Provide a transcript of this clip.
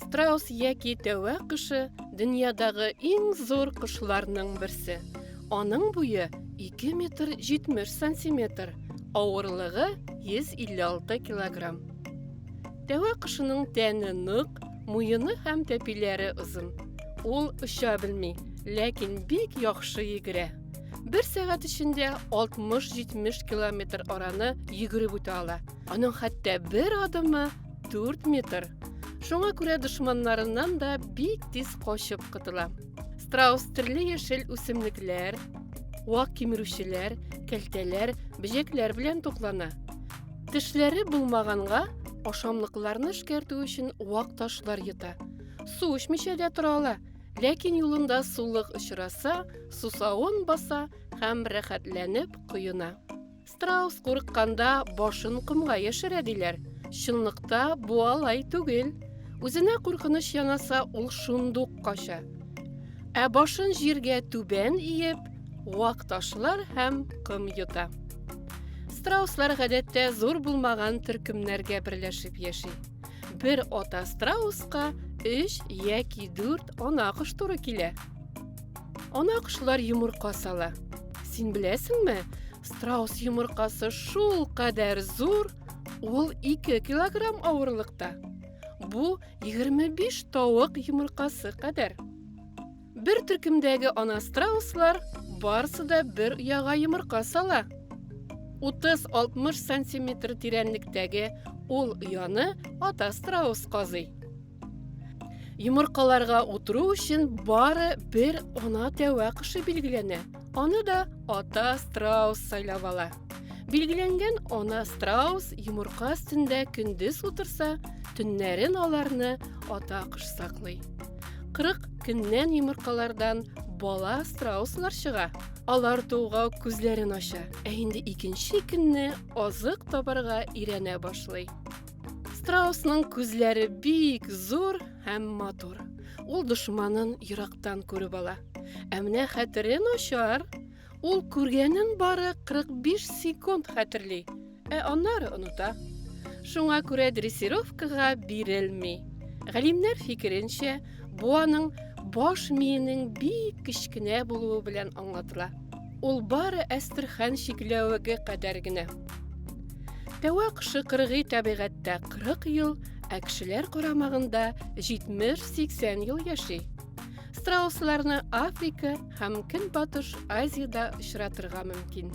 Страус яки тәвә кышы дөньядагы иң зур кышларның берсе. Аның буе 2 метр 70 сантиметр, авырлыгы 156 килограмм. Тәвә кышының тәне нык, муены һәм тәпиләре озын. Ул оча белми, ләкин бик яхшы йөгерә. Бер сәгать эчендә 60-70 километр араны йөгереп үтә ала. Аның хәтта бер адымы 4 метр. Шуңа күрә дошманнарыннан да бик тиз качып котыла. Страус төрле яшел үсемлекләр, вак кимерүчеләр, кәлтәләр, бөҗәкләр белән туклана. Тешләре булмаганга ашамлыкларны эшкәртү өчен вак ташлар йота. Су эчмичә дә тора ала, ләкин юлында сулык очраса, сусавын баса һәм рәхәтләнеп коена. Страус курыкканда башын комга яшерә диләр. Чынлыкта бу алай түгел. Үзенә куркыныч янаса, ул шундук кача. Ә башын җиргә түбән иеп, вак ташлар һәм ком йота. Страуслар гадәттә зур булмаган төркемнәргә берләшеп яши. Бер ата страуска 3 яки 4 ана кош туры килә. Ана кошлар йомырка сала. Син беләсеңме, страус йомыркасы шул кадәр зур, ул 2 килограмм авырлыкта. Бу 25 тавык йомыркасы кадәр. Бер төркемдәге ана страуслар барысы да бер ояга йомырка сала. 30-60 сантиметр тирәнлектәге ул ояны ата страус казый. Йомыркаларга утыру өчен бары бер ана тәвә кышы билгеләнә. Аны да ата страус сайлап ала. Билгеләнгән ана страус йомырка өстендә көндез утырса, төннәрен аларны ата кыш саклый. 40 көннән йомыркалардан бала страуслар чыга. Алар тууга күзләрен ача, ә инде икенче көнне азык табарга өйрәнә башлый. Страусның күзләре бик зур һәм матур. Ул дошманын ерактан күреп ала. Ә менә хәтере начар. Ул күргәнен бары 45 секунд хәтерли, ә аннары оныта. Шуңа күрә дрессировкага бирелми. Галимнәр фикеренчә, Бу аның баш миенең бик кечкенә булуы белән аңлатыла. Ул бары Әстерхан чикләвеге кадәр генә. Тәвәк шыкыргый табигатьтә 40 ел, ә кешеләр карамагында 70-80 ел яши. Страусларны Африка һәм Көнбатыш Азиядә очратырга мөмкин.